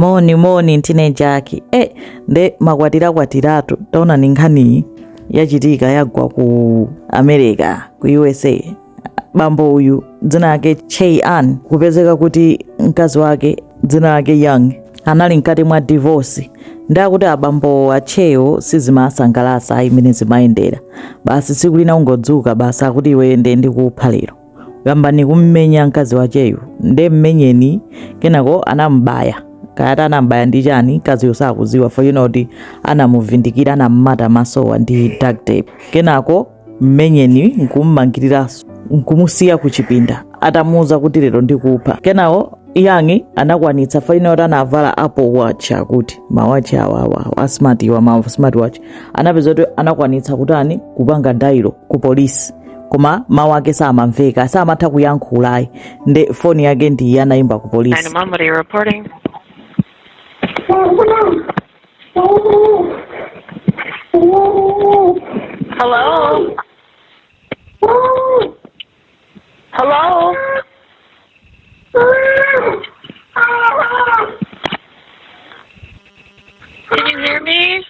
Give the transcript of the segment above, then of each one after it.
moni moni ntine jaki e eh, nde makwatira kwatiratu taona ni nkhaniyi yachitika yagwa ku america ku usa bambo uyu dzina lake chey an kupezeka kuti mkazi wake dzina lake young anali mkati mwa divorce nde akuti abambo achewo sizimasangalasa imene zimayendera basi tsiku lina ungodzuka basi akuti iwe nde ndikupha lero nkuyamba kummenya mkazi wacheyu nde mmenyeni kenako anamubaya kaya anamubaya ndi chani mkaziyo sakuziwa poti anamuvindikira anammata masowo ndi duct tape kenako mmenyeni nkummangiriranso nkumusiya kuchipinda atamuuza kuti lero ndikupha kenako young anakwanitsa faina kuti anavala apple watch akuti mawachi awawa asmart iwa ma smart watch anapeza kuti anakwanitsa kutani kupanga dial ku polisi koma mawu ake samamveka samatha kuyankhulayi nde foni yake ndiyi yanayimba ku polisi 911, what are you reporting? Hello? Hello? Can you hear me?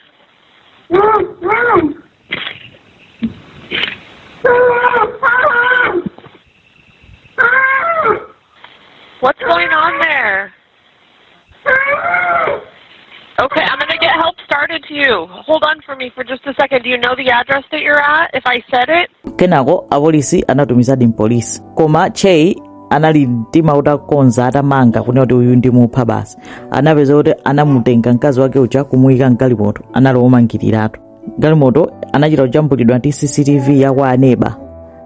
What's going on there? Okay, I'm going to get help started to you. Hold on for me for just a second. Do you know the address that you're at if I said it? kenako apolisi anatumizadi mpolisi koma chey anali mtima utakonza atamanga kunena kuti uyu ndimupha basi anapeza kuti anamutenga mkazi wake uja kumuyika mgalimoto anali womangiriratu galimoto anachita kujambulidwa ndi cctv ya kwa aneba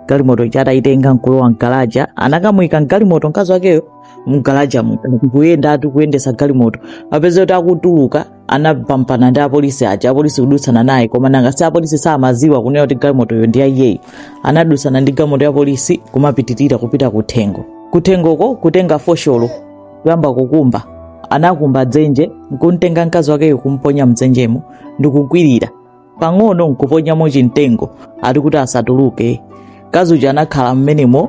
galimoto ija atayitenga nkulowa mgalaja anakamuyika mgalimoto mkazi wakeyo mgalaja kuyenda ati kuyendesa galimoto apeza kuti akutuluka anaphambana ndi apolisi aja apolisi kudutsana naye koma nanga si apolisi samaziwa kunena kuti galimotoyo ndi ya iyeyi anadutsana ndi galimoto ya polisi kumapitirira kupita kuthengo kuthengoko kutenga fosholo kuyamba kukumba anakumba dzenje nkumtenga mkazi wakeyo kumponya mdzenjemo ndikukwirira pang'ono nkuponyamo chimtengo ati kuti asatuluke mkazi uja anakhala mmenemo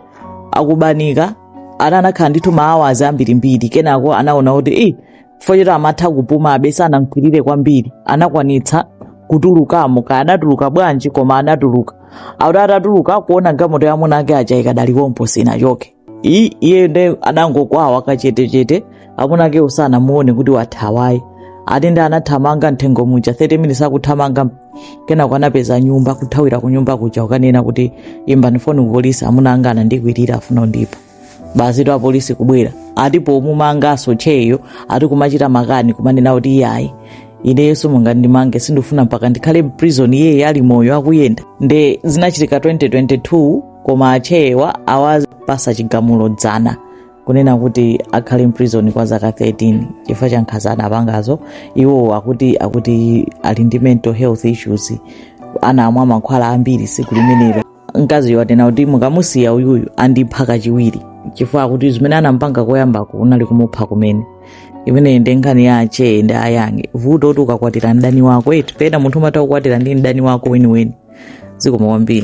akubanika ana anakhala ndithu maawazi ambirimbiri kenako anaona kuti i chifukwa choti amatha kupuma amve sanamkwirire kwambiri anakwanitsa kutulukamo kaya anatuluka bwanji koma anatuluka akuti atatuluka kuona galimoto ya amuna ake aja ikadali pompo sinachoke iyi iyeyo nde anangokwawa kachetechete amuna ake osamuona kuti wathawa ati nde anathamanga mtchire muja 30 minutes akuthamanga kenako anapeza nyumba kuthawira ku nyumba kuja kukanena kuti imbani foni ku polisi amuna anga anandikwirira afuna andiphe basi tu apolisi kubwera atapomumanganso cheyo ati kumachita makani kumanena kuti iyayi ineyo simungandimange sindifuna mpaka ndikhale mprison iyeyi ali moyo akuyenda nde zinachitika 2022 koma a Che awapatsa chigamulo dzana kunena kuti akhale mprison kwa zaka 13 chifukwa cha nkhanza anapangazo iwo akuti akuti ali ndi mental health issues anamwa mankhwala ambiri tsiku limenelo mkaziyo atanena kuti mukamusiya uyuyu andipha kachiwiri chifukwa akuti zimene anampanga koyamba kunali kumupha kumene imeneyi ndi nkhani ya a Che ndi a Young vuto nkuti ukakwatira mdani wako eti pena munthu umatha kukwatira ndi mdani wako weniweni zikomo kwambiri